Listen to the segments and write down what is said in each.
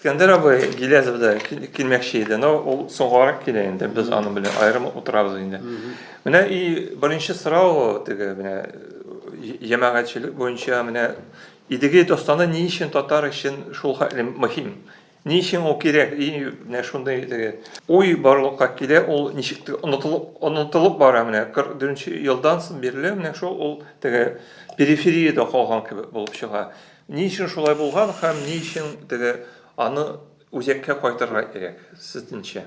Искәндәр абый Гилязов да килмәкче иде, но ул соңгарак килә инде, без аның белән аерым утырабыз инде. Менә и беренче сорау теге менә җәмәгатьчелек буенча менә Идеге достаны ни өчен татар өчен шул хәтле мөһим? Ни өчен ул кирәк? И менә шундый теге уй барлыкка килә, ул ничек онытылып онытылып бара менә 44 елдан соң бирле менә шул ул теге периферияда калган кебек булып чыга. Ни өчен шулай булган һәм ни өчен теге аны үзәккә кайтырга кирәк, сезнеңчә?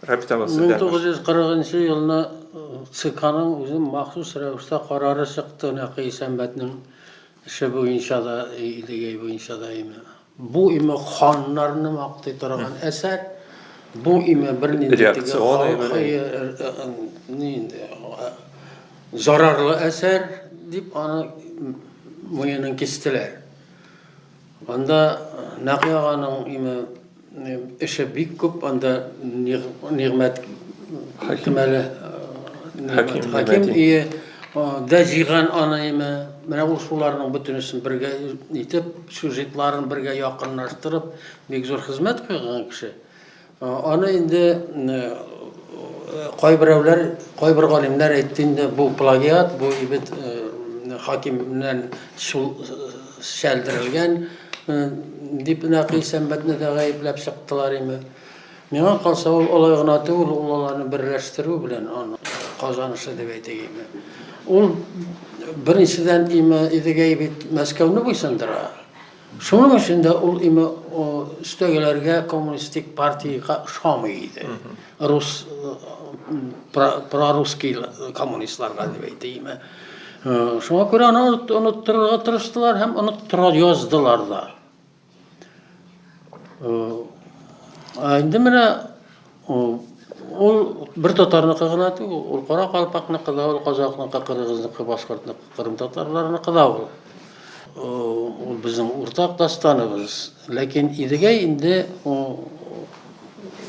Рабит абый, сездән баш. 1940 нчы елны ЦКның үзе махсус рәвештә карары чыкты, нәкъ Исәнбәтнең эше буенча да, Идегәй буенча да име. Бу име ханнарны мактый торган әсәр, бу име бернинди теге Реакцион әйбер. халкы, ни инде, Зарарлы әсәр дип аны муенын кистеләр. Анда Нәкый аганың име эше бик күп, анда Нигъмәт Хәкимәле Хәким ие дә җыйган аны име. Менә ул шуларның бөтенесен бергә итеп, сюжетларын бергә якынлаштырып, бик зур хезмәт куйган кеше. Аны инде кайберәүләр, кайбер галимнәр әйтте инде, бу плагиат, бу ибет хакимнән шул чәлдерелгән дип Нәкый Сәмбәтне дә гаепләп чыктылар име. Миңа калса, ул алай гына түгел, ул аларны берләштерү белән аның казанышы дип әйтик име. Ул беренчедән име Идегәй бит Мәскәүне буйсындыра. Шуның өчен дә ул име өстәгеләргә коммунистик партиягә ошамый иде. Рус прорусский коммунистларга дип әйтә име. Шуңа күрә аны оныттырырга тырыштылар һәм оныттыра яздылар да. Ә инде менә Ул, ул бер татарныкы гына түгел, ул кара калпакныкы да, ул казакныкы, кыргызныкы, башкортныкы, кырым татарларыныкы да ул. Ул безнең уртак дастаныбыз. Ләкин Идегәй инде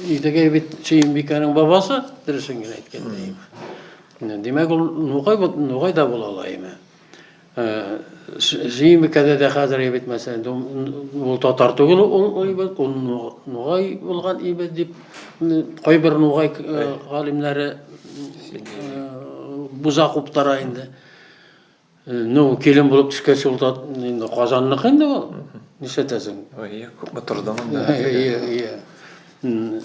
Идегәй бит Сөембикәнең бабасы, дөресен генә әйткәндә. Димәк, ул Нугай, Нугай да була ала име? Зимы кәдә дә хәзер ебет мәсәлән, ул татар түгел ул ибет, ул нугай булган ибет дип кайбер нугай галимнәре буза куптара инде. Ну, килен булып төшкәч ул инде Казанныкы инде ул. Нишәтәсең? Ой, күпме тордың инде.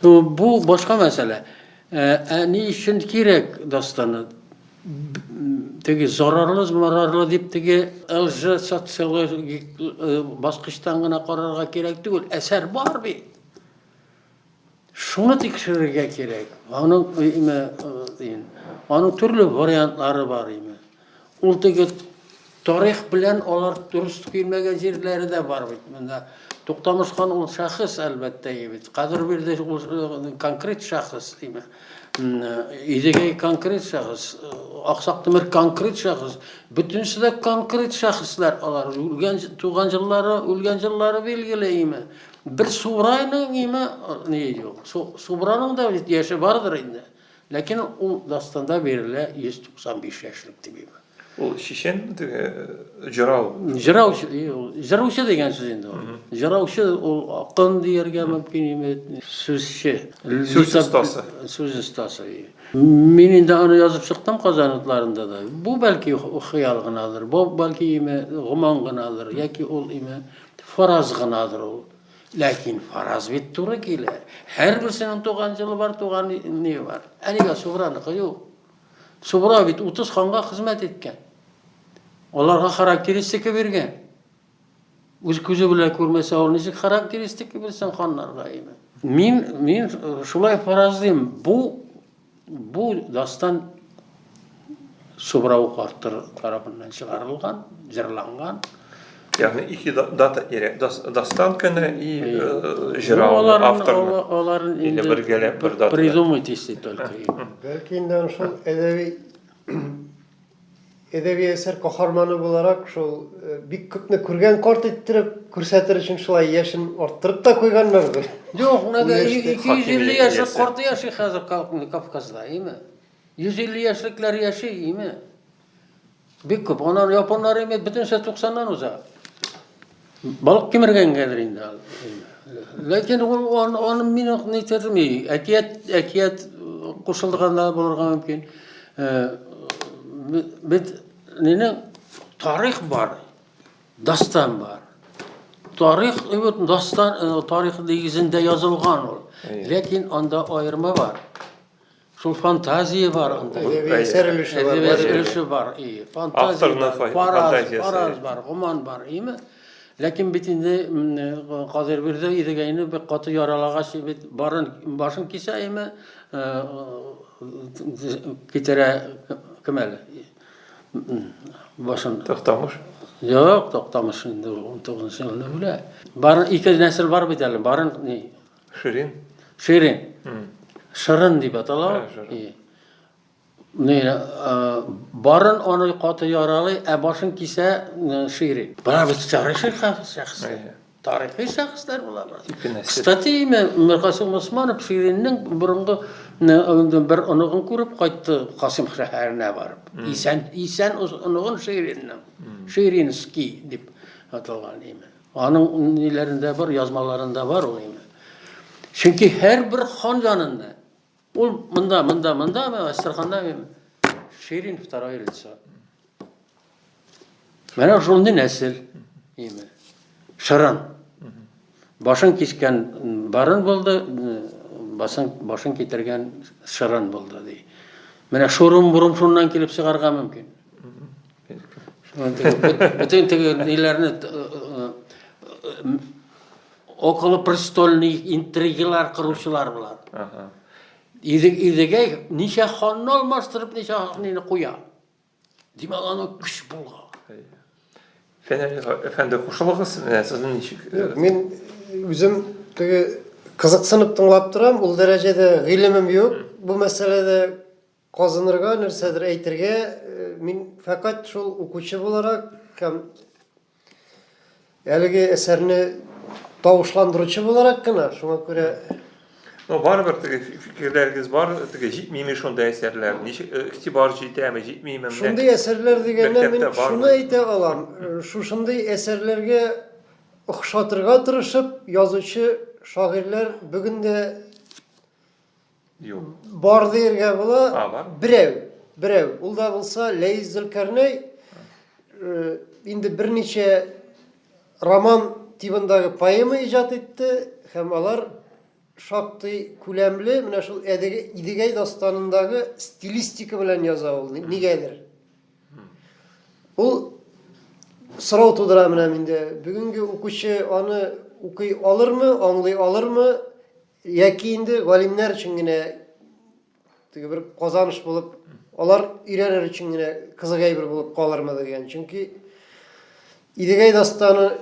Бу башка мәсьәлә. Ә, ә ни өчен кирәк дастаны? Теге зарарлы, марарлы дип теге лжи социологик э, баскычтан гына карарга кирәк түгел. Әсәр бар бит. Шуны тикшерергә кирәк. Аның име, э, э, аның төрле вариантлары бар име. Ул теге тарих белән алар дөрес килмәгән җирләре дә бар бит монда. Туктамыш хан ул шәхес әлбәттә бит. Кадер бирде ул э, конкрет шәхес димә. Идегәй конкрет шәхес, э, Аксак Тимер конкрет шәхес. Бөтенесе дә конкрет шәхесләр алар. Үлгән туган җиллары, үлгән җиллары билгеле име. Бер Субрайның име э, ни юк. Субраның да яше бардыр инде. Ләкин ул дастанда бирелә 195 яшьлек дип имә. Ул чечен теге җырау. Җырау, җыраучы дигән сүз инде ул. Җыраучы ул акын дияргә мөмкин име, сүзче. Сүз остасы. Сүз остасы. Мин инде аны язып чыктым Казан утларында да. Бу бәлки хыял гынадыр, бу бәлки име гоман гынадыр, яки ул име фараз гынадыр ул. Ләкин фараз бит туры килә. Һәрберсенең туган җылы бар, туган не бар. Әлегә Субраныкы юк. Субра бит 30 ханга хезмәт иткән. Аларга характеристика биргән. Үз күзе белән күрмәсә, ул ничек характеристика бирсен ханнарга инде. Мин мин шулай фаразлыйм. Бу Бу дастан Субрау картыр тарафыннан чыгарылган, җырланган. Ягъни ике дата кирәк. Дастан көне и э, җырау авторны. Аларын инде бергәләп бер дата. Придумать если только. Бәлки инде шул әдәби Әдәби әсәр каһарманы буларак, шул бик күпне күргән карт иттереп күрсәтер өчен шулай яшен арттырып та куйганнардыр. Юк, менә 250 яшьлек карт яши хәзер Кавказда, име? 150 яшьлекләр яши, име? Бик күп. Аннан японнар име бөтенесе 90-нан уза. Балык кимергәнгәдер инде ал. Ләкин ул аны аны мин ак ни терми. Әкият әкият кушылганда булырга мөмкин. Э, бит нене тарих бар. Дастан бар. Тарих үт дастан э, тарих дигезендә язылган ул. Ләкин анда аерма бар. Шул фантазия бар анда. Әдәби әсәр өлеше бар. Әдәби әсәр өлеше бар. И, фантазия бар, фараз, фараз бар, гоман бар, име? Ләкин бит инде Кадыр бирде идегәйне бик каты яралагач бит барын башын кисә име? Китерә кем әле? Башын. Тохтамыш. Юк, Тохтамыш инде 19 елны үлә. Барын ике нәсел бар бит әле. Барын Ширин? Ширин. Шырын дип атала. Менә барын аны каты яралый, ә башын кисә шири. Бара бит тарихи шәхес. Тарихи шәхесләр була. Кстати, имя Миркасым Усманов Шириннең борынгы бер оныгын күреп кайтты Касым шәһәренә барып. Исән, исән оныгын Шириннең. Ширинский дип аталган имя. Аның ниләрендә бар, язмаларында бар ул инде. Чөнки һәрбер хан янында ул монда, монда, монда, Астраханда Ширин второе лицо. Менә шундый нәсел. Име. Шыран. Башын кискән барын булды, басын башын китергән шыран булды ди. Менә шурым-бурым шуннан килеп чыгарга мөмкин. Бүтән теге ниләрне околопрестольный интригалар кыручылар булар. Ага. Иде идегә ничә ханны алмаштырып, ничә ханны куя. Димәк, аны көч булган. Фәнәли әфәнде кушылыгыз, менә сезнең ничек? Мин үзем теге кызыксынып тыңлап торам, ул дәрәҗәдә гыйлемем юк бу мәсьәләдә Казынырга, нәрсәдер әйтергә, мин фәкать шул укучы буларак һәм әлеге әсәрне тавышландыручы буларак кына, шуңа күрә Ну, барыбер теге фикерләрегез бар, теге җитмиме шундый әсәрләр? Ничек э, игътибар җитәме, җитмиме? Шундый әсәрләр дигәндә мин шуны әйтә алам. Э, шушындый әсәрләргә охшатырга тырышып, язучы шагыйрьләр бүген дә Юк. Бар диергә була. А, бар. Берәү, берәү. Ул да булса Ләйс Зөлкәрнәй э, инде берничә роман тибындагы поэма иҗат итте һәм алар шактый күләмле менә шул Әдег- Идегәй дастанындагы стилистика белән яза ул ни- нигәдер. Ул сорау тудыра менә миндә. Бүгенге укучы аны укый алырмы, аңлый алырмы? Яки инде галимнәр өчен генә теге бер казаныш булып, алар өйрәнер өчен генә кызык әйбер булып калырмы дигән. Чөнки Идегәй дастаны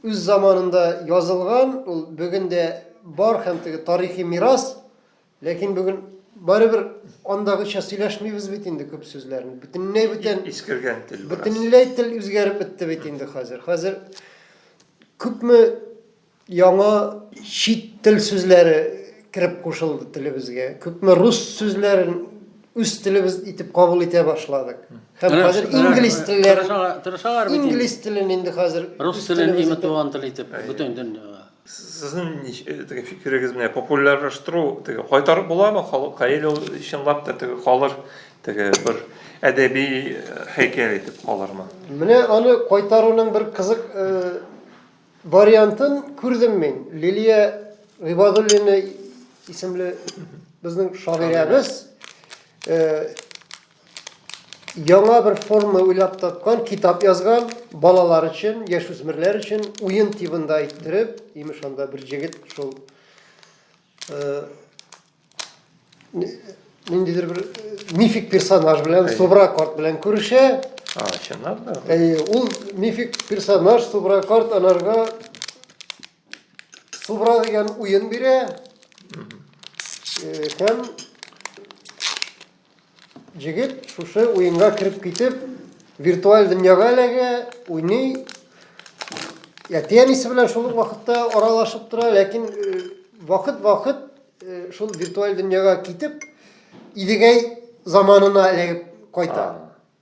үз заманында язылган, ул бүген дә бар һәм теге тарихи мирас, ләкин бүген барыбер андагыча сөйләшмибез бит инде күп сүзләрне. Бөтенләй бүтән искергән тел. Бөтенләй тел үзгәреп бетте бит инде хәзер. Хәзер күпме Яңа чит тел сүзләре кереп кушылды телебезгә. Күпме рус сүзләрен үз телебез итеп кабул итә башладык. Һәм хәзер инглиз телләре тырышалар бит. Инглиз телен инде хәзер рус телен име туган тел итеп бөтен дөньяга. Сезнең теге фикерегез менә популярлаштыру теге кайтарып буламы халыкка или ул чынлап та теге калыр теге бер әдәби һәйкәл итеп калырмы? Менә аны кайтаруның бер кызык Вариантын күрдем мин. Лилия Гыйбадуллина исемле безнең шагыйрәбез яңа бер форма уйлап тапкан, китап язган, балалар өчен, яшүсмерләр өчен уен тибында иттереп, имеш анда бер җегет шул ниндидер бер мифик персонаж белән субра карт белән күрешә чынлап та ул мифик персонаж субра карт аларга субра дигән уен бирә һәм Җегет шушы уенга кереп китеп, виртуаль дөньяга эләгә, уйный. Әти әнисе белән шул ук вакытта аралашып тора, ләкин вакыт-вакыт э, э, шул виртуаль дөньяга китеп, Идегәй заманына эләгеп кайта.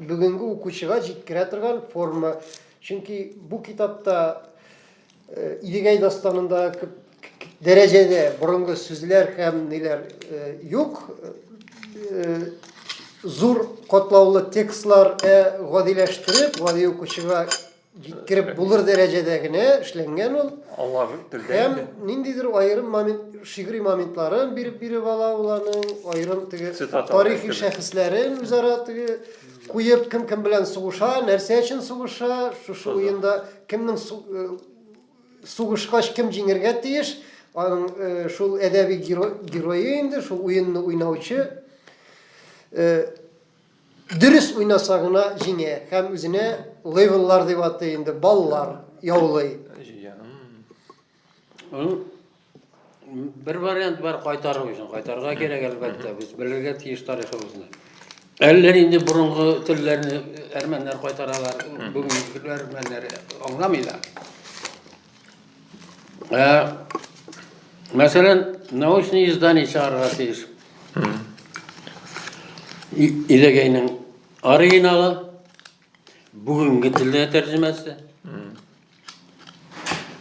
бүгенге укучыга җиткерә торган форма. Чөнки бу китапта э, Идегәй дастанында күп дәрәҗәдә борынгы сүзләр һәм ниләр э, юк. Э, зур катлаулы текстлар гадиләштереп, гади укучыга җиткереп булыр дәрәҗәдә генә эшләнгән ул. Алар телдә. Һәм ниндидер аерым момент, шигъри моментларын биреп биреп ала ул аның, аерым теге тарихи шәхесләрен үзара теге куеп, кем кем белән сугыша, нәрсә өчен сугыша, шушы уенда кемнең э, сугышкач кем җиңергә тиеш, аның э, шул әдәби герое инде, шул уенны уйнаучы э, Дөрес уйнаса гына җиңә һәм үзенә левеллар дип атый инде, баллар яулый. Җия. М. М, Бер вариант бар кайтару өчен. Кайтарга кирәк, әлбәттә. Без белергә тиеш тарихыбызны. Әллә инде борынгы телләрне әрмәннәр кайтаралар, бүгенгеләр әрмәннәр аңламый да. Ә, мәсәлән, научный издание чыгарырга тиеш. Иләгәйнең оригиналы, бүгенге телдә тәрҗемәсе.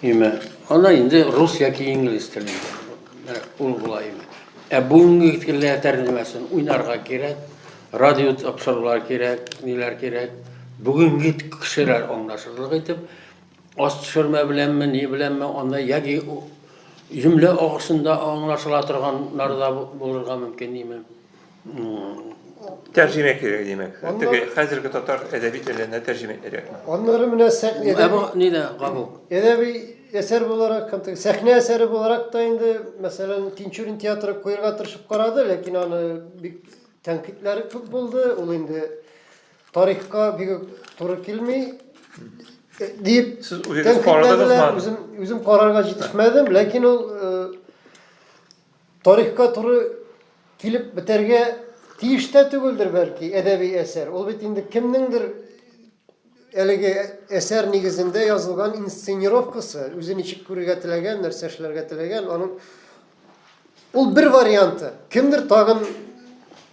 Име. Ана инде рус яки инглиз телендә. Ул була име. Ә бүгенге телдә тәрҗемәсен уйнарга кирәк, радио тапшырулар кирәк, ниләр кирәк. Бүгенге кешеләр аңлашырлык итеп Аш төшермә беләнме, ни беләнме, анда яки җөмлә агышында аңлашыла торганнар да булырга мөмкин, димме. Тәрҗемә кирәк, димәк. Теге хәзерге татар әдәби теленә тәрҗемә кирәк. Аннары менә сәхнә. Ә бу ни дә кабул? Әдәби әсәр буларак, сәхнә әсәре буларак та инде, мәсәлән, Тинчурин театры куярга тырышып карады, ләкин аны бик тәнкыйтьләре күп булды. Ул инде Тарихка бик үк туры килми дип Сез үгез тәнкыйтьләделәр. карадыгызмы? Үзем, үзем карарга җитешмәдем, ләкин ул э, тарихка туры килеп бетәргә тиеш тә түгелдер бәлки әдәби әсәр. Ул бит инде кемнеңдер әлеге әсәр нигезендә язылган инсценировкасы, үзе ничек күрергә теләгән, нәрсә эшләргә теләгән, аның Ул бер варианты. Кемдер тагын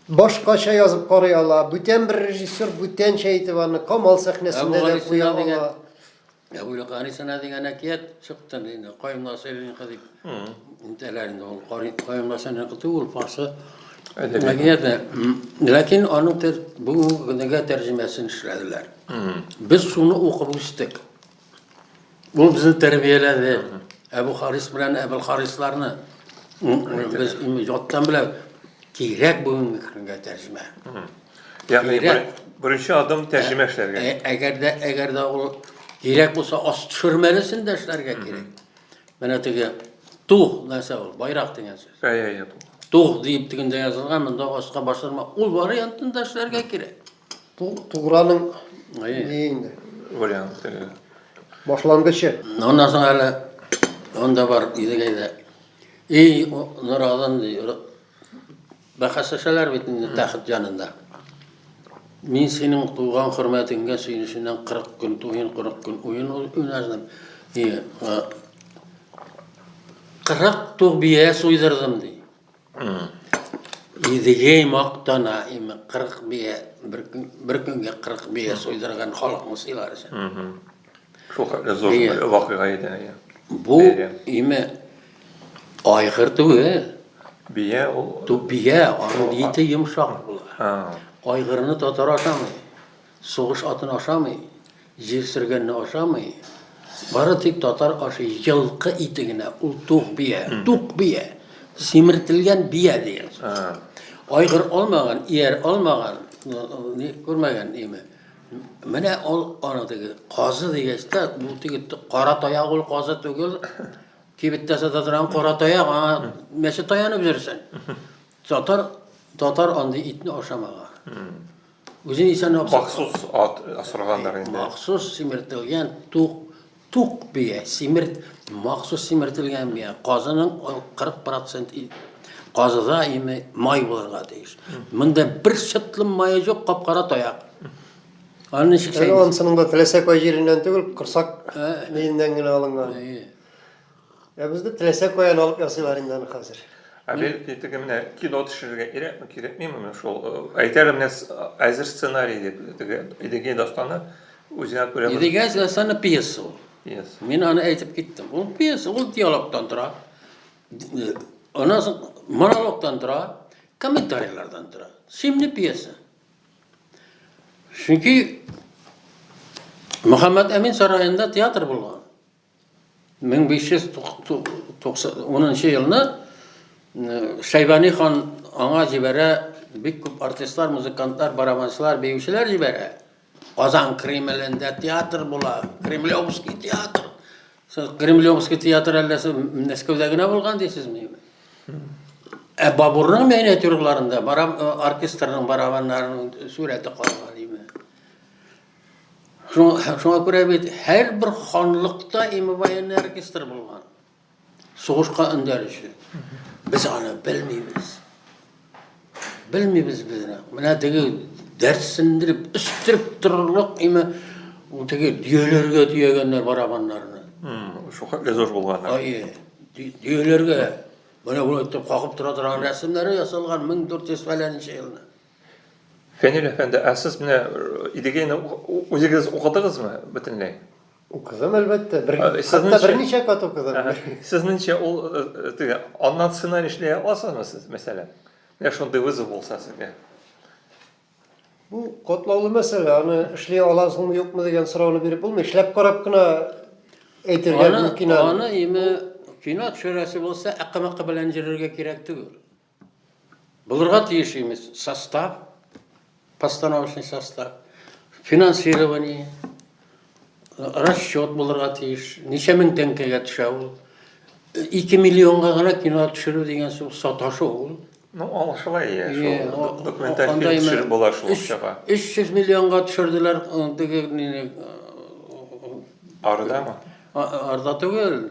башкача язып карый ала. Бүтән бер режиссер бүтәнчә итеп аны Камал сәхнәсендә дә куя ала. Әбүле Гарисана дигән әкият чыкты инде. Кайымла сөйләгән кыз дип. Интәләр инде ул кайымла сәнә кыты ул фасы. Әкият. Ләкин аның бүгенге тәрҗемәсен эшләделәр. Без шуны укып үстек. Ул безне тәрбияләде. Әбу Харис белән Әбел Харисларны без яттан белә кирәк бүгенге көнгә тәрҗемә. Ягъни беренче адым тәрҗемә эшләргә. Ә, әгәр дә әгәр дә ул кирәк булса, ас төшермәлесен дә эшләргә кирәк. Менә теге тух нәрсә ул, байрак дигән сүз. Әйе, әйе. Тух дип тегендә язылган, монда аска башырма. Ул вариантын да эшләргә кирәк. Туграның ни инде? Вариант. Башлангычы. Аннан соң әле анда бар Идегәйдә. Эй, Нуразан ди. Бәхәсләшәләр бит инде тәхет янында. Мин синең туган хөрмәтеңгә сөенеченнән 40 көн туен, 40 көн уен уйнадым. И, 40 туг бия суйдырдым ди. Идегәй мактана име 40 бия бер, бер көнгә 40 бия суйдырган халыкны сыйлар өчен. Шул хәтле зур бер вакыйга иде. Бу име айгыр түгел. Бия ул. Ту бия, аның ите йомшак була. Айгырны татар ашамый. Сугыш атын ашамый, җир сөргәнне ашамый, бары тик татар ашый елкы ите генә, ул тук бия, тук бия, симертелгән бия дигән сүз. Айгыр алмаган, ияр алмаган, күрмәгән име. Менә ул аны теге казы дигәч тә, бу теге кара таяк ул казы түгел. Кибеттә сата торган кара таяк, аңа мәче таянып йөрсен. Татар татар андый итне ашамаган. Үзен исән абзый. Махсус ат асырганнар инде. Махсус симертелгән тук тук бия, симерт махсус симертелгән бия. Казының 40% казыда име май булырга тиеш. Монда бер чытлым мае юк, капкара таяк. Аны ничек сәйли? Аны сының да теләсә кай җиреннән түгел, корсак миеннән генә алынган. Ә безне теләсә каян алып ясыйлар инде аны хәзер. Ә бел теге менә кино төшерергә кирәкме, кирәкмиме менә шул э, әйтәләр менә с- әзер сценарий дип теге Идегей дастаны үзенә күрә бер Идегәй Зәсәне пьеса ул. пьеса. Мин аны әйтеп киттем. Ул пьеса, ул диалогтан тора. Д- Аннан соң монологтан тора, комментарийлардан тора. Симне пьеса. Чөнки Мөхәммәт Әмин сараенда театр булган. 1590 нчы елны Шәйбани хан аңа җибәрә, бик күп артистлар, музыкантлар, барабанчылар, биючеләр җибәрә. Казан Кремлендә театр була, Кремлевский театр. Сез Кремлевский театр әллә сез Мәскәүдә генә булган дисезме? Ә Бабурның миниатюраларында бараб оркестрның барабаннарының сурәте калган име? Шуңа, шуңа күрә бит һәрбер ханлыкта и мобаенный оркестр булган. Сугышка өндәр өчен. Без аны белмибез. Белмибез без аны. Менә теге дәрсендереп, өстереп торырлык име теге дөяләргә төягәннәр барабаннарны. Шуңа лезош булган. Ай, дөяләргә. Менә бу итеп какып тора торган рәсемнәре ясалган 1400 фәләнче елны. Фәнил әфәнде, ә сез менә Идегәйне үзегез укыдыгызмы бөтенләй? Укыдым, әлбәттә. Бер, хәтта берничә кат укыдым. Сезнеңчә ул теге аннан сценарий эшли аласызмы сез, мәсәлән? Менә шундый вызов булса сезгә. Бу котлаулы мәсьәлә, аны эшли аласыңмы, юкмы дигән сорауны биреп булмый. Эшләп карап кына әйтергә мөмкин әле. Аны, аны име кино төшерәсе булса, әккә-мәккә белән йөрергә кирәк түгел. Булырга тиеш имез состав, постановочный состав, финансирование, расчет булырга тиеш. Ничә мең тәңкәгә төшә ул? 2 миллионга гына кино төшерү дигән сүз саташу ул. Ну, ал шулай я, шул документаль фильм төшереп була шул акчага. 300 миллионга төшерделәр теге нине. Ардамы? Арда түгел.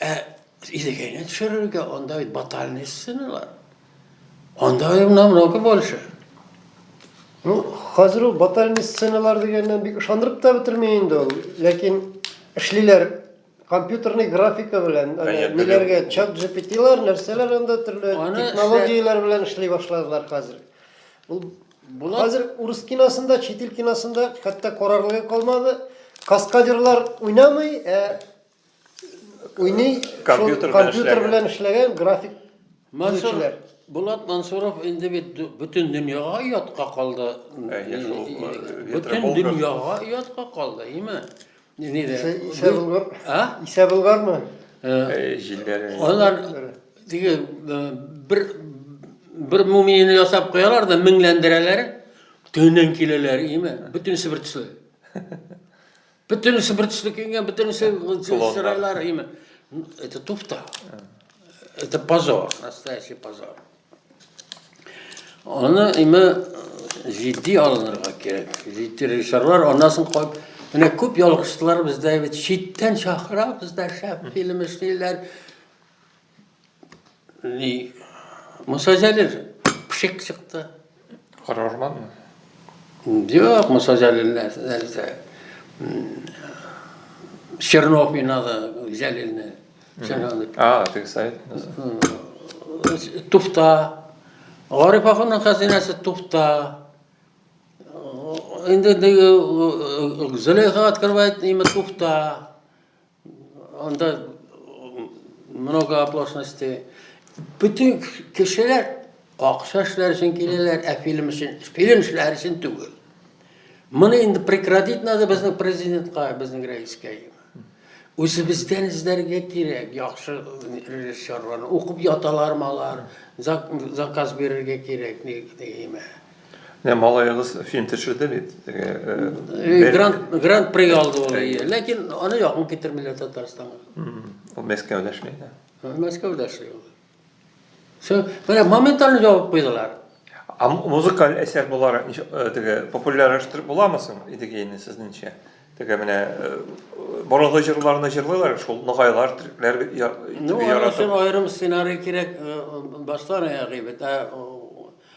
Ә Идегәйне төшерергә анда бит батальный сценалар. Анда именно много больше. Ну, хәзер ул батальный сценалар дигәннән бик ышандырып та бетерми инде ул. Ләкин эшлиләр компьютерный графика белән, ниләргә чат GPT-лар, нәрсәләр анда төрле технологияләр белән эшли башладылар хәзер. Ул Булат... Хәзер урыс киносында, чит ил киносында хәтта карарлыгы калмады. Каскадерлар уйнамый, ә уйный, компьютер белән эшләгән график Мансур, Булат Мансуров инде бит бөтен дөньяга оятка калды. Бөтен дөньяга оятка калды, име? Исә Булгар. А? Исә Булгармы? Җилләре. Алар диге бер бер мумияне ясап куялар да меңләндерәләр, төнен киләләр, име? Бөтен сибертсыз. Бөтенесе бер төсле киенгән, бөтенесе чырайлар име. Это туфта. Это позор, настоящий позор. Аны име җитди алынырга кирәк. Җитди режиссерлар анасын куып Менә күп ялгышлар бездә бит читтән чакыра, бездә шәп фильм эшлиләр. Ни, Муса Җәлил пшик чыкты. Кара урманмы? Юк, Муса Җәлил нәрсә? Чернов минады Җәлилне. А, ты сайт. Туфта. Гариф ахунның хәзинәсе туфта. Инде Зөләйха открывает имя туфта. Анда много оплошности. Бүтін кешелер ақша эшләр өчен киләләр, ә фильм өчен, фильм эшләр өчен түгел. Моны инде прекратить надо безнең президентка, безнең рәискә. Үзебездән эзләргә кирәк, яхшы режиссерларны. Укып яталармы алар, заказ бирергә кирәк, нигеме. Менә малаегыз фильм төшерде бит. Грант грант проект алды ул. Ләкин аны якын китермиләр Татарстанга. Ул Мәскәүдә эшли иде. Мәскәүдә эшли ул. Все, менә моментально җавап куйдылар. А музыкаль әсәр буларак теге популярлаштырып буламы соң Идегейны сезнеңчә? Теге менә борынгы җырларны җырлыйлар шул ногайлар, төрекләр яратып. Ну, аерым сценарий кирәк баштан аяк әйбәт.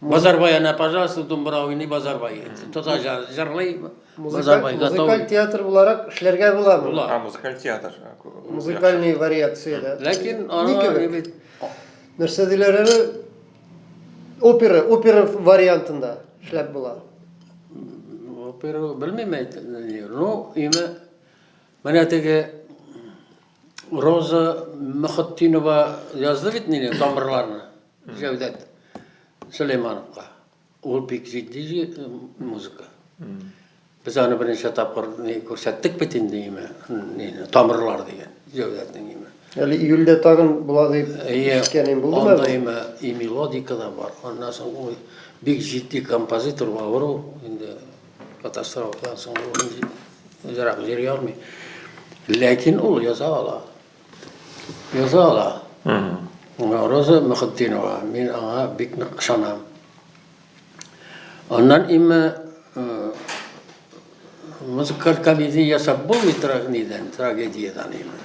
Базарбай ана, пожалуйста, думбра уйный Базарбай. Тотар җырлый Базарбай. Музыкаль театр буларак эшләргә була бу. Була. Музыкаль театр. Музыкальный вариация да. Ләкин аны нәрсә диләр әле? Опера, опера вариантында эшләп була. Опера белмим әйтелер. Ну, имя менә теге Роза Мөхәттинова язды бит нинди тамырларны. Җәүдәт Сөләймановка. Ул бик җитди музыка. Без аны беренче тапкыр күрсәттек бит инде име, тамырлар дигән Җәүдәтнең име. Әле июльдә тагын була дип ишеткәнем булды да. Име, и мелодика да бар. Аннан соң ул бик җитди композитор, авыр ул инде катастрофадан соң ул үзрәк җырлый алмый. Ләкин ул яза ала. Яза ала. Роза Мөхетдинова, мин аңа бик нык ышанам. Аннан име музыкаль комедия ясап булмый тора нидән, трагедиядән име.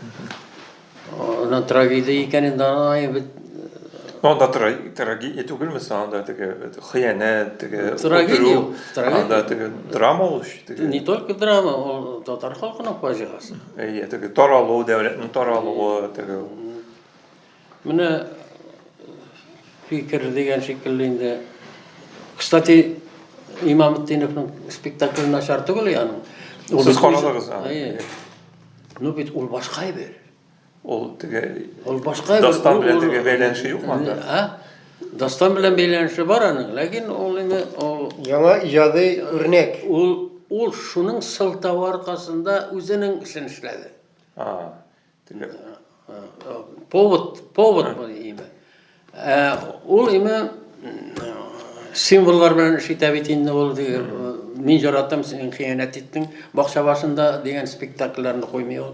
Аннан трагедия икәнен дә аңлаем бит. Анда трагедия түгелме анда теге хыянәт, теге трагедия, анда теге драма ул. Не только драма, ул татар халкының фаҗигасы. Әйе, теге таралу, дәүләтнең таралуы, теге. Менә фикер дигән шикелле инде. Кстати, Имамтдиновның спектакле начар түгел яны. Сез карадыгыз аны. Ну бит ул башка әйбер. Ул теге Ул башка әйбер. Дастан белән теге бәйләнеше юкмы анда? А? Дастан белән бәйләнеше бар аның, ләкин ул инде ул Яңа иҗади үрнәк. Ул ул шуның сылтавы аркасында үзенең эшен эшләде. А. Повод, повод бу име. Ә ул име символлар белән эш итә бит инде ул мин яратам син хыянәт иттең бакча башында дигән спектакльләрне куймый ул.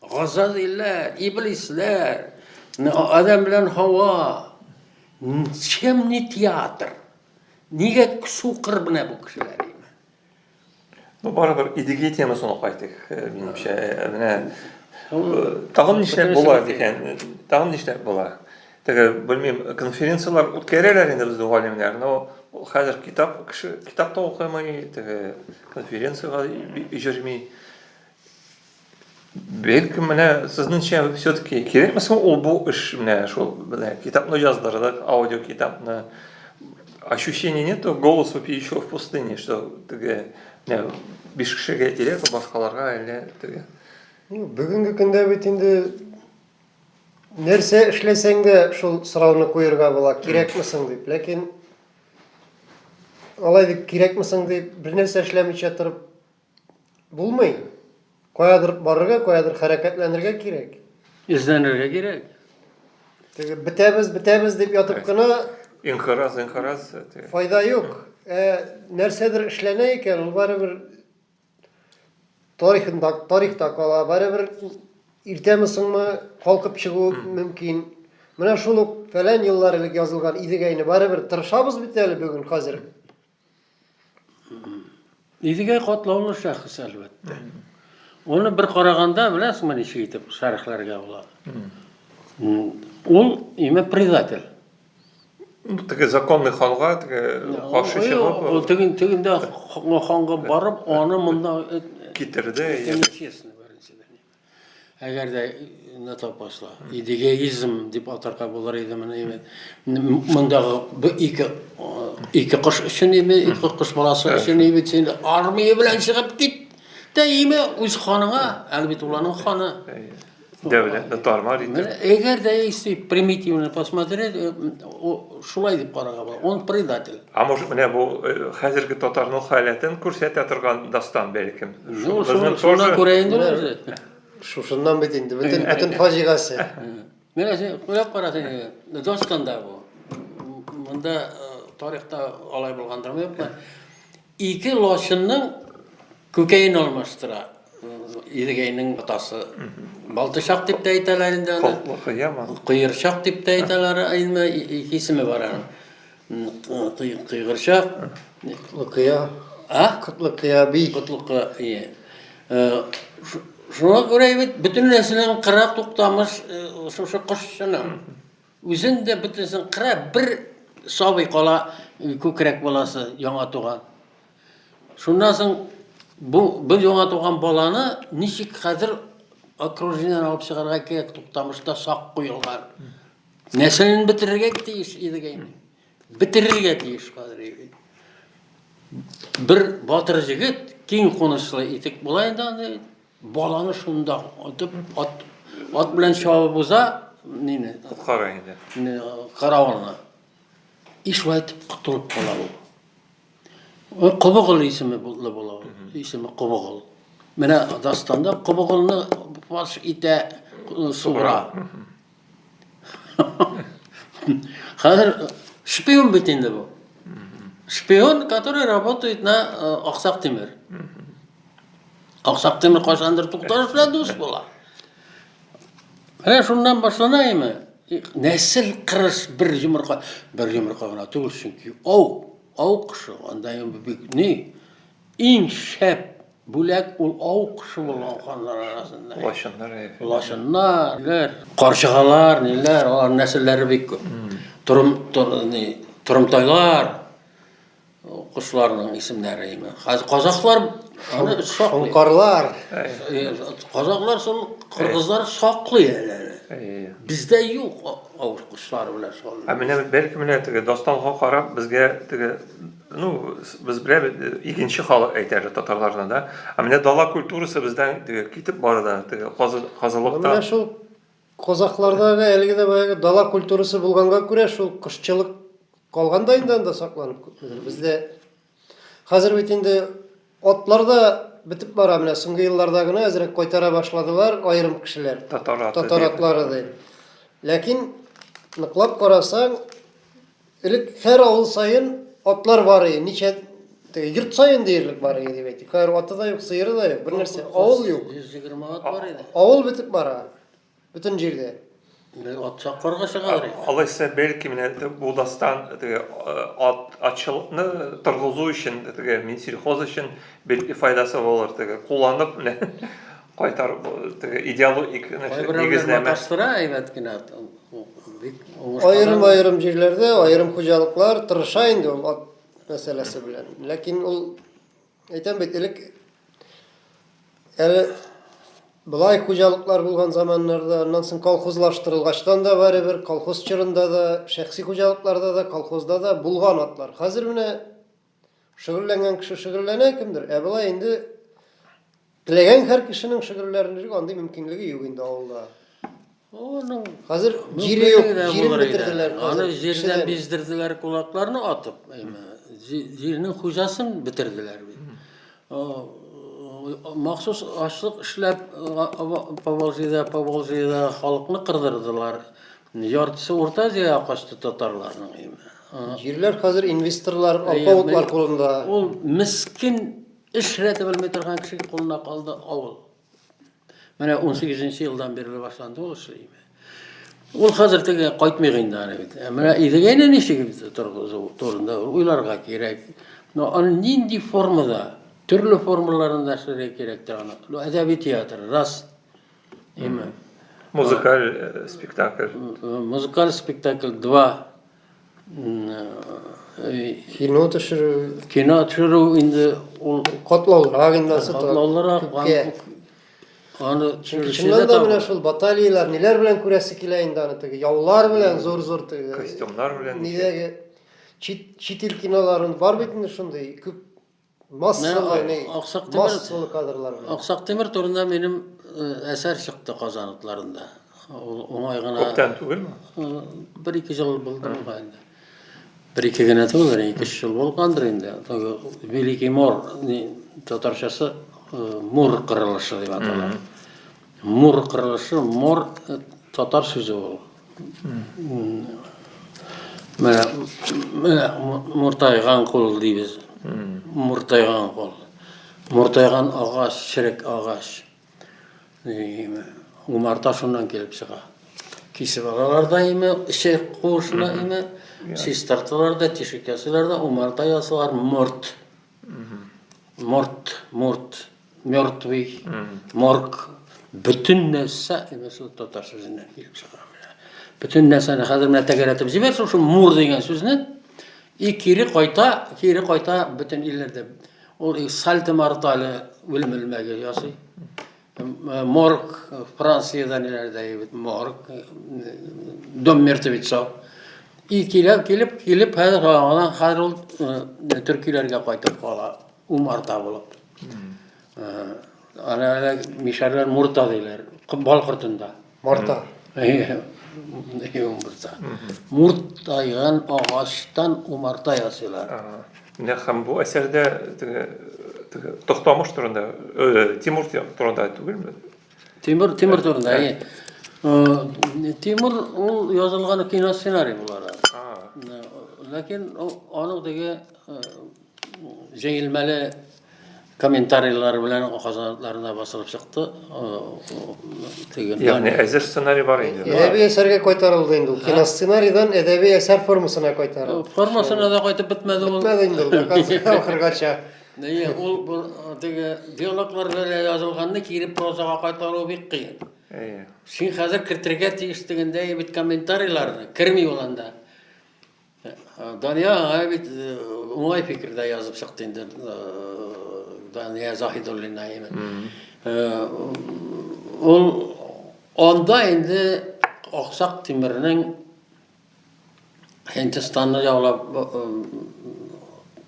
Газазилләр, иблисләр, Адәм белән Һава. Чем не театр? Нигә сукыр менә бу кешеләр? Ну, барыбер идеги темасына кайтыйк, э, минемчә. Э, менә э, тагын нишләп була дигән, тагын нишләп була? Теге, белмим, конференцияләр үткәрәләр инде безнең галимнәр, но хәзер китап кеше китап та укымый, теге конференциягә җөрми. Бик менә сезнеңчә все-таки кирәкме соң ул бу эш менә шул менә китапны яздырдык, аудио китапны. Ощущение нету голосу пьющего в пустыне, что теге менә биш кешегә кирәк, башкаларга әллә теге. Ну, бүгенге көндә бит инде нәрсә эшләсәң дә шул сорауны куерга була, кирәкме соң дип. Ләкин алай дип кирәкме соң дип бернәрсә эшләмичә торып Булмый. Каядыр барырга, каядыр хәрәкәтләнергә кирәк. Эзләнергә кирәк. Теге бетәбез, бетәбез дип ятып кына Инхираз, инхираз. Файда юк. Ә нәрсәдер эшләнә икән, ул барыбер тарихында, тарихта кала, барыбер иртәме соңмы калкып чыгу мөмкин. Менә шул ук фәлән еллар элек язылган Идегәйне барыбер тырышабыз бит әле бүген хәзер Идегәй катлаулы шәхес, әлбәттә. Аны бер караганда, беләсеңме, ничек итеп шәрехләргә була? Ул, имә, предатель. Ну, теге законный ханга, теге каршы чыгып... Ул теге, тегендә ханга барып, аны монда... Э, Китерде. Нечестно. Әгәр дә не то пошло. Идеализм дип атарга булыр иде моны инде. Мондагы бу ике ике кош өчен иде, ике кош баласы өчен иде, син армия белән чыгып кит. Тә име үз ханыңа, әле бит уланың ханы. Дәүләт, нотармар инде. Әгәр дә если примитивно посмотреть, э, шулай дип карарга була. Он предатель. А может, менә бу э, хәзерге татарның халәтен күрсәтә торган дастан бәлкем. Ну, шуны, шуны күрә инде үзе. Шушыннан бит инде, бөтен, бөтен фаҗигасе. Менә син күреп карасаң инде, Донскан да бу. Монда э, тарихта алай булгандырмы юкмы? Ике лошынның күкәен алмаштыра. Идегәйнең атасы. Балтышак дип тә әйтәләр инде аны. Коллык, яма. Куерчак дип тә әйтәләр, инде исеме бар аның. Кыйгырчак. Котлыкыя. А? Котлыкыя би. Котлыкыя. Иә. Шуңа күрә бит бөтен нәрсәнең кыра туктамыш шушы кошчының. Үзен дә бөтенсен кыра, бер сабый кала күкрәк баласы яңа туган. Шуннан соң бу бер яңа туган баланы ничек хәзер окружениедән алып чыгарга кирәк, туктамышта сак куелган. Нәрсәне бетерергә тиеш Идегәйне? Бетерергә тиеш хәзер Идегәй. Бер батыр җегет киң кунычлы итек була инде аны баланы шунда атып ат, ат белән чабып уза нине Коткара инде. не, каравылны. И шулай итеп котылып кала ул. Ой, Кобыгыл исеме була була. ул. Исеме Кобыгыл. Менә дастанда Кобыгылны фаш итә э, сугыра. Хәзер шпион бит инде бу. Шпион, который работает на э, Аксак Тимир. Аксак Тимир кайсандыр тукталыш белән дус була. Менә шуннан башлана име? Нәсел кырыс бер йомырка, бер йомырка гына түгел, чөнки ау, ау кышы, анда бик ни, Иң шәп бүләк ул ау кошы булган ханнар арасында. Лачыннар. Лачыннар, карчыгалар, ниләр, алар нәселләре бик күп. Торым, ни, торымтайлар кошларның исемнәре име. Хәзер казахлар аны саклый. Карлар. Казахлар сон кыргызлар саклый әле. Бездә юк ау кошлары белән шул. Ә менә бер кемне теге дасталга карап безгә теге Ну, без беләб, икенче халык әйтәр татарларны да. Ә менә дала культурасы бездән теге китеп бара да, теге казылыкта. Менә шул казаклардагы әлеге дә баягы дала культурасы булганга күрә шул кошчылык калган да инде анда сакланып күпмедер. Бездә хәзер бит инде атлар да бетеп бара, менә соңгы елларда гына әзрәк кайтара башладылар аерым кешеләр. Татар атлары ди. Ләкин ныклап карасаң, Элек һәр авыл саен атлар бар иде. Ничә теге йорт саен диярлек бар иде дип әйтик. Хәзер аты да юк, сыеры да юк, бер нәрсә. Авыл юк. 120 ат бар иде. Авыл бетеп бара. Бөтен җирдә. Бер ат саккарга чыгалар иде. Алайса, бәлки менә бу дастан теге э, ат атчылыкны торгызу өчен теге Минсельхоз өчен бәлки файдасы булыр теге кулланып менә Кайтар теге идеологик нигезләмә. Маташтыра әйбәт кенә. Аерым аерым җирләрдә аерым хуҗалыклар тырыша инде ул ат мәсьәләсе белән. Ләкин ул әйтәм бит элек әле былай хуҗалыклар булган заманнарда, аннан соң колхозлаштырылгачтан да барыбер колхоз чорында да, шәхси хуҗалыкларда да, колхозда да булган атлар. Хәзер менә Шөгыльләнгән кеше шөгыльләнә кемдер, ә болай инде теләгән һәр кешенең шөгыльләнергә андый мөмкинлеге юк инде авылда. Оның хәзер җире юк, җирен бетерделәр. Аны җирдән биздерделәр кулакларны атып, әйме. Җирнең хуҗасын бетерделәр бит. Махсус ашлык эшләп Поволжьеда, Поволжьеда халыкны кырдырдылар. Яртысы Урта Азиягә качты татарларның әйме. Җирләр хәзер инвесторлар, алпавытлар кулында. Ул мискин эш рәте белми торган кеше кулына калды авыл. Менә 18 елдан бирле башланды ул эшле име. Ул хәзер теге кайтмый инде аны бит. Ә менә Идегәйне ничек торгызу турында уйларга кирәк. Но аны нинди формада, төрле формаларында эшләргә кирәк тә аны. Әдәби театр, раз. Именно. Музыкаль э, спектакль. Э, музыкаль спектакль два. Э, кино төшерү. Кино төшерү инде ул котлаулырак инде асы. Котлаулырак. Аны төшерүчеләр дә менә шул баталияләр ниләр белән күрәсе килә инде аны теге яулар белән зур-зур теге костюмнар белән. Нидәге чит чит ил киноларын бар бит инде шундый күп Массалы кадрлар. Аксак Тимер турында минем әсәр чыкты Казан утларында. Ул уңай гына. Күптән түгелме? Бер-ике ел булды буга инде. Бер-ике генә түгел, ике ел булгандыр инде. Великий Мор татарчасы Мур кырылышы дип атала. Мур кырылышы, мор э, татар сүзе ул. Менә, менә муртайган кул дибез. Муртайган кул. Муртайган агач, чирек агач. Дигеме, умарта шуннан килеп чыга. Кисеп алалар да име, эче куышына име, чистарталар да, тишек ясыйлар да, умарта ясалар, морт. Морт, морт, мертвый, морг, бөтен нәрсә инде шул татар сүзеннән килеп чыга. Бөтен нәрсәне хәзер менә тәгәрәтеп җибәр шушы мур дигән сүзне и кире кайта, кире кайта бөтен илләрдә. Ул и сальто мортале үлем элмәге ясый. Морг, Франциядә ниләрдә ебет, морг, дом мертвецов. И килеп, килеп, килеп, хәзер аңа хәзер ул төркиләргә кайтып кала, умарта булып. Ана мишәрләр мурта диләр, бал кортында. Марта. Юмырта. Муртайган агачтан умарта ясыйлар. Менә һәм бу әсәрдә теге теге Тохтамыш турында, э, Тимур турында түгелме? Тимур, Тимур турында. Ә, э, Тимур ул язылган киносценарий буларак. Ләкин аның теге э, җәелмәле комментарийлар белән казанларына басылып чыкты. Ягъни әзер сценарий бар инде. Әдәби әсәргә кайтарылды инде ул. Киносценарийдан әдәби әсәр формасына кайтарылды. Формасына да кайтып бетмәде ул. Бетмәде инде ул. Ахыргача. Әйе, ул теге диалоглар белән язылганны кире прозага кайтару бик кыен. Әйе. Син хәзер кертергә тиеш дигәндәй бит комментарийларны, керми ул анда. Дания аңа бит э, уңай фикердә язып чыкты инде э, Дания Заһидуллина именно. Э, Ул анда инде Аксак Тимирнең Һиндстанны яулап э,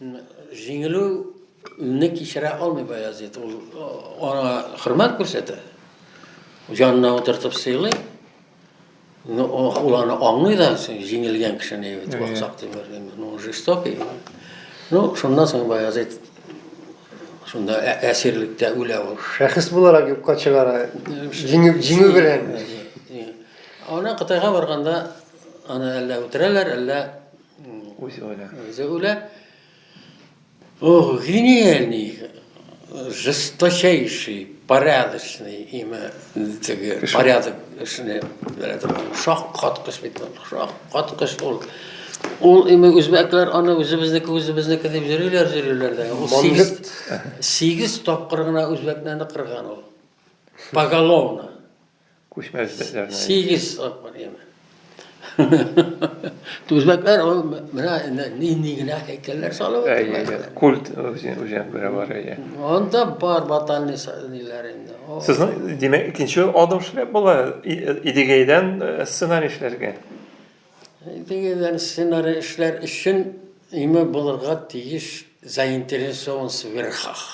Җиңелү не кичерә алмый Баязит. Ул аңа хөрмәт күрсәтә. Җанына утыртып сыйлый. Ну, ул аны аңлый да, җиңелгән кешене бит ваксак дип бергән. Ну, жестокий. Ну, шуннан соң Баязит шунда әсирлектә үлә ул. Шәхес буларак юкка чыгара. Җиңү җиңү белән. Ана Кытайга барганда аны әллә үтерәләр, әллә Үзе үлә. Үзе үлә. Ох, гениальный, жесточайший, порядочный, имя, теге, порядок, шуны, шок каткыш бит, шок каткыш ул. Ул имя үзбәкләр аны үзебезнеке үзебезнеке дип йөриләр, йөриләр дә. Ул сигез, сигез тапкыр гына үзбәкләрне кырган ул. Поголовно. Күчмәс дәртләрне. Сигез тапкыр яме. Түзмәкләр ул менә нинди генә һәйкәлләр салып утыралар. Культ үзен күрә бар әйе. Анда бар батальный ниләр инде. Сезнең димәк икенче адым эшләп була Идегәйдән э, сценарий эшләргә. Идегәйдән сценарий эшләр өчен име булырга тиеш заинтересованность верхах.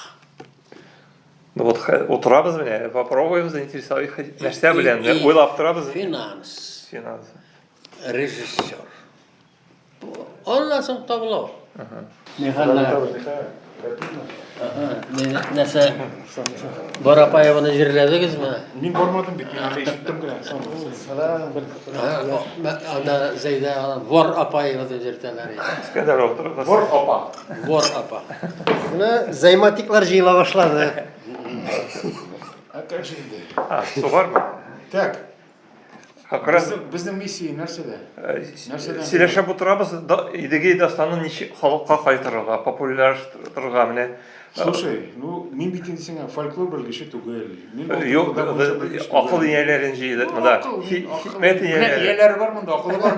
Ну вот утырабыз менә, попробуем заинтересовать нәрсә белән, уйлап торабыз. Финанс. Финанс. Режиссер. Аннан соң табылау. Нәрсә? Барапаеваны җирләдегезме? Мин бармадым бит, мин аны ишеттем генә. Салам бер. Ана Зәйдә Вар Апаева дип йөртәләр. Искәндәров. Вар Апа. Вор апа. Менә займатиклар җыела башлады. А как же инде? А, сугармы? Так. Акрас безнең миссия нәрсәдә? Э, нәрсәдә? Сөйләшеп утырабыз, Идеге дастаны ничек халыкка кайтырырга, популярлаштырырга менә. Э, Слушай, ну мин бит инде сиңа фольклор белгече түгел. Мин э, юк, акыл ияләрен җыйды ну, монда. Хикмәт ияләре. Ияләре бар монда, акылы бар.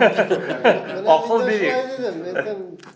Акыл бирик.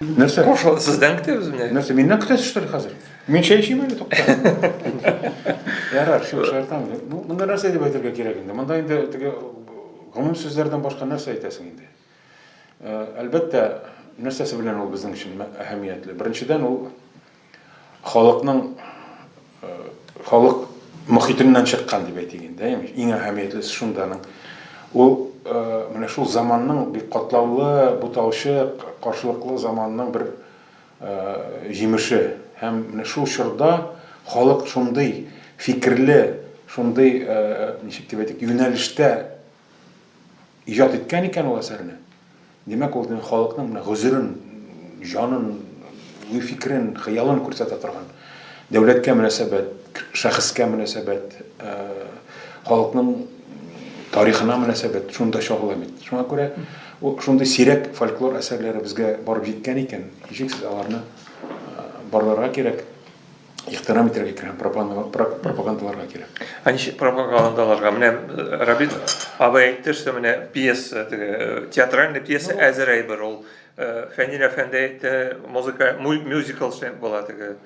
Нәрсә? Кошо сездән көтәбез менә. Нәрсә, миннән көтәсездер хәзер? Мин чәй эчим әле тукта. Ярар, шук шартам. Бу монда нәрсә дип әйтергә кирәк инде? Монда инде теге гомум сүзләрдән башка нәрсә әйтәсең инде? Әлбәттә, нәрсәсе белән ул безнең өчен әһәмиятле? Беренчедән ул Халыкның халык мохитеннән чыккан дип әйтик инде, имеш. Иң әһәмиятлесе шунданың. Ул менә шул заманның бик катлаулы, буталчык, каршылыклы заманның бер җимеше. Һәм менә шул чорда халык шундый фикерле, шундый, ничек дип әйтик, юнәлештә иҗат иткән икән ул әсәрне, димәк, ул халыкның менә гозерен, җанын, уй-фикерен, хыялын күрсәтә торган, дәүләткә мөнәсәбәт, шәхескә мөнәсәбәт, э, халыкның тарихына мөнәсәбәт шунда чагыла бит. Шуңа күрә шундый сирәк фольклор әсәрләре безгә барып җиткән икән, ничек сез аларны э, барларга кирәк. ихтирам итәргә кирәк һәм пропагандаларга кирәк. Ә ничек пропагандаларга? Менә э, Рабит абый әйтте, что менә пьеса, теге э, театральный пьеса ну, әзер әйбер ул. Э, Фәнил әфәнде әйтте, музыка мюзикл була теге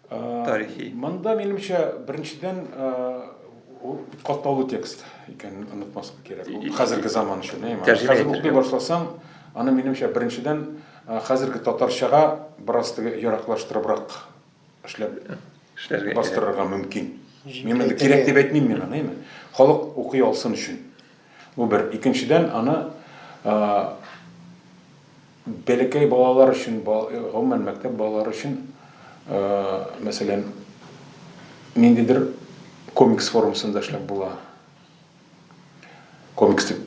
тарихи. Монда минемчә беренчедән катлаулы текст икәнен онытмаска кирәк. Хәзерге заман өчен. Хәзер укый башласаң, аны минемчә беренчедән Хәзерге татарчага бераз теге яраклаштырыбрак эшләп эшләргә бастырырга мөмкин. Мин моны кирәк дип әйтмим мин аны, әйме. Халык укый алсын өчен. Бу бер. Икенчедән, аны бәләкәй балалар өчен, гомумән мәктәп балалары өчен, мәсәлән, ниндидер комикс формасында эшләп була. Комикс дип,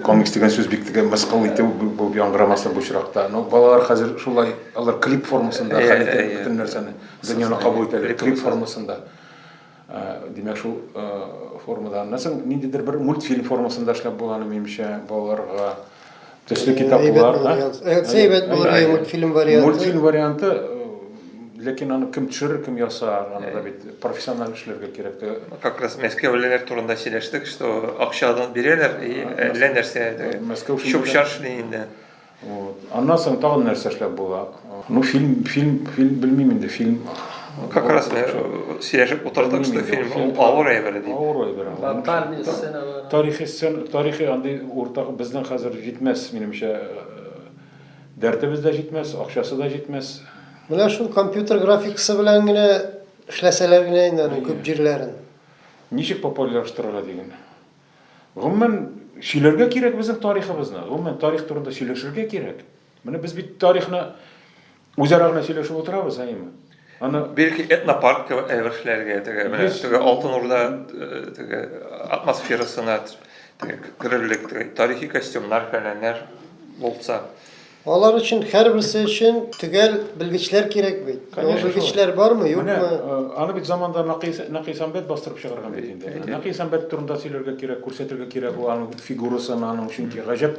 комикс дигән сүз бик тә мыскыл итү булып яңгырамаса бу очракта. Ну, балалар хәзер шулай, алар клип формасында хәл итә бөтен нәрсәне. Дөньяны кабул итәләр клип формасында. Димәк, шул формада. Нәрсә, ниндидер бер мультфильм формасында эшләп булган, минемчә, балаларга. Төсле китаплар. Әйбәт булыр иде мультфильм варианты. Мультфильм варианты, ләкин аны кем төшерер, кем ясар, аны да бит профессиональ эшләргә кирәк. Как раз мәскәүлеләр турында сөйләштек, что акчадан бирәләр и әллә нәрсә чүп-чар эшли инде. Вот. Аннан соң тагын нәрсә эшләп була? Ну, фильм, фильм, фильм, белмим инде, фильм. Как раз мы э, сөйләшеп утырдык, что фильм, фильм авыр әйбер ди. Авыр әйбер. Локальный сцена. Тарихи сцена, тарихи андый уртак безнең хәзер җитмәс, минемчә. Э, дәртебез дә җитмәс, акчасы да җитмәс. Менә шул компьютер графикасы белән генә эшләсәләр генә инде аның күп җирләрен. Ничек популярлаштырырга дигән. Гомумән сөйләргә кирәк безнең тарихыбызны. Гомумән тарих турында сөйләшергә кирәк. Менә без бит тарихны үзара гына сөйләшеп утырабыз, әйеме? Аны бирки этнопаркка әвершләргә теге менә теге алтын урда э, теге атмосферасына теге керерлек теге тарихи костюмнар фәләннәр булса. Алар өчен һәрберсе өчен төгәл белгечләр кирәк бит. Конечно, белгечләр бармы, юкмы? Менә э, аны бит заманда Накис Накис Амбет бастырып чыгарган бит инде. Накис Амбет турында сөйләргә кирәк, күрсәтергә кирәк ул аның фигурасын, аның чөнки гаҗәп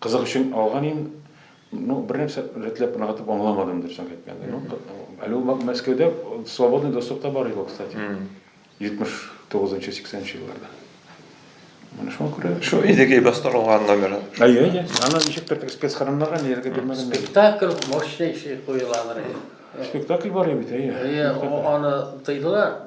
Кызык өчен алган ин, ну, бер нәрсә рәтләп ныгытып аңламадым, дөресен әйткәндә. Ну, әле ул Мәскәүдә свободный доступ та бар иде ул, кстати. 79-80 нчы елларда. Менә шуңа күрә Шо Идегей бастырылган номер. Әйе, әйе. Аны ничектер теге спецхороннарга ниләргә бирмәгән. Спектакль мощнейший куеладыр. Спектакль бар бит, әйе. Әйе, аны тыйдылар.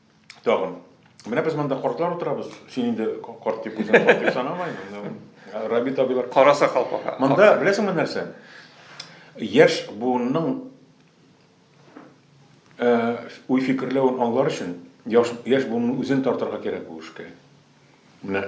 тагын. Менә без монда картлар утырабыз. Син инде карт дип үзең карт дип санамай. Рабит абилар. Караса калпака. Монда беләсеңме нәрсә? Яшь буынның э, уй фикерләвен аңлар өчен яшь, яшь буынның үзен тартырга кирәк бу эшкә. Менә